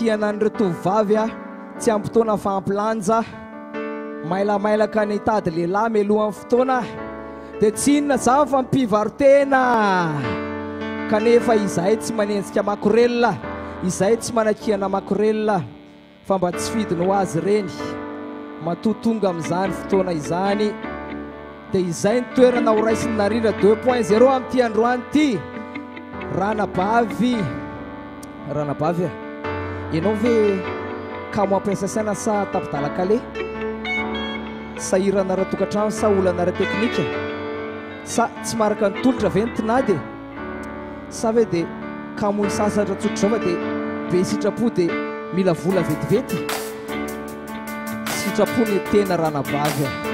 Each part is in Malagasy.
Hianan'ireo tovovavy aho tsy am-potoana fa am-pilanja Mailamailaka ny hitady lehilahy mialohan'ny fotoana Dia tsy inona izany fa mpivarotena Kanefa izahay tsy manenjika makorelina Izahay tsy manakihana makorelina Fa mba tsy fidiny ho azy ireny Matoa tonga amin'izany fotoana izany Dia izay ny toerana horaisin'i Narindra deux point zero Amin'ity androany ity Ranabavy Ranabavy a! Ianao ve kamo hampiasa saina sa tapi-dalan-kale? Sahirana ara-tokantrano sa olana ara-teknika? Sa tsy maharaka ny tolotra ve ny tinady e? Sa ve dia kamo hisasatra tsotr'izao fa dia be sitrapo dia mila vola vetivety? Sitrapo ny tena ranabavy a!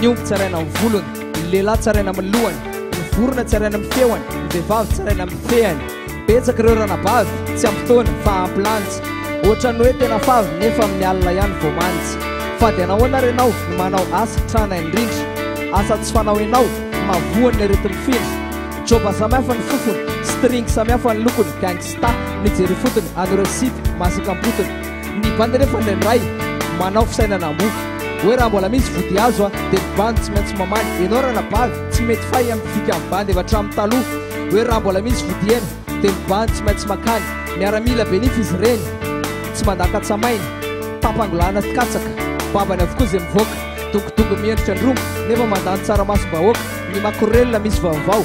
Ny omby tsaraina amin'ny volony, ny lehilahy tsaraina amin'ny lohany, ny vorona tsaraina amin'ny feony, ny vehivavy tsaraina amin'ny fehany. Betsaka ireo ranabavy, tsy ampy taona fa ampy lanitra. Ohatran'ny hoe tena favy nefa amin'ny alina ihany vao manitra. Fady anahoana ary ianao no manao asa trana indrindra? Asa tsy fanao ianao no mahavoa ny aretin'ny findra. Joba samihafa ny fofony, string samihafa ny lokony, gangsta mijery ifotony an'ireo sipa masaka am-potony. Ny bandy anefa indraindray manao fisainana mofo Hoe raha mbola misy vody azo a Dia ny bandy tsy maintsy mamaly Ianao ranabavy tsy mety fay amin'ny dikany bandy avy hatramin'ny taloha Hoe raha mbola misy vody hena Dia ny bandy tsy maintsy makany Miaramila be nify izy ireny Tsy mandaka tsamaina Tapangolana sy katsaka Babany avokoa izay mivoaka Dongodongo miendrika androngo Nefa mandany tsaramasom-bahoaka Ny makorelina misy vaovao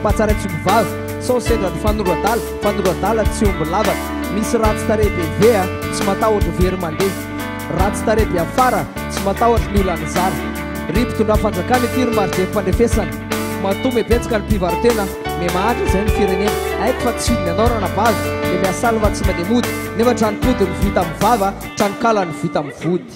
Mpatsara tsy omby vavy, sao sendra ny fanondro adala, fanondro adala tsy omby lavaka, misy ratsy tarehy be ve a, tsy matahotra ho very mandeha, ratsy tarehy be afara, tsy matahotra ny olana zara, ry mpitondra fanjakana ity ry marjefo fandrefesana, matoa mebetsaka ny mpivaro-tena, memahantra izay ny firenena, haiko fa tsy hidiny anao ranabavy, le miasalva tsy mandeha mody, nefa trano-pody no vita amin'ny vava, trano-kala no vita amin'ny vody.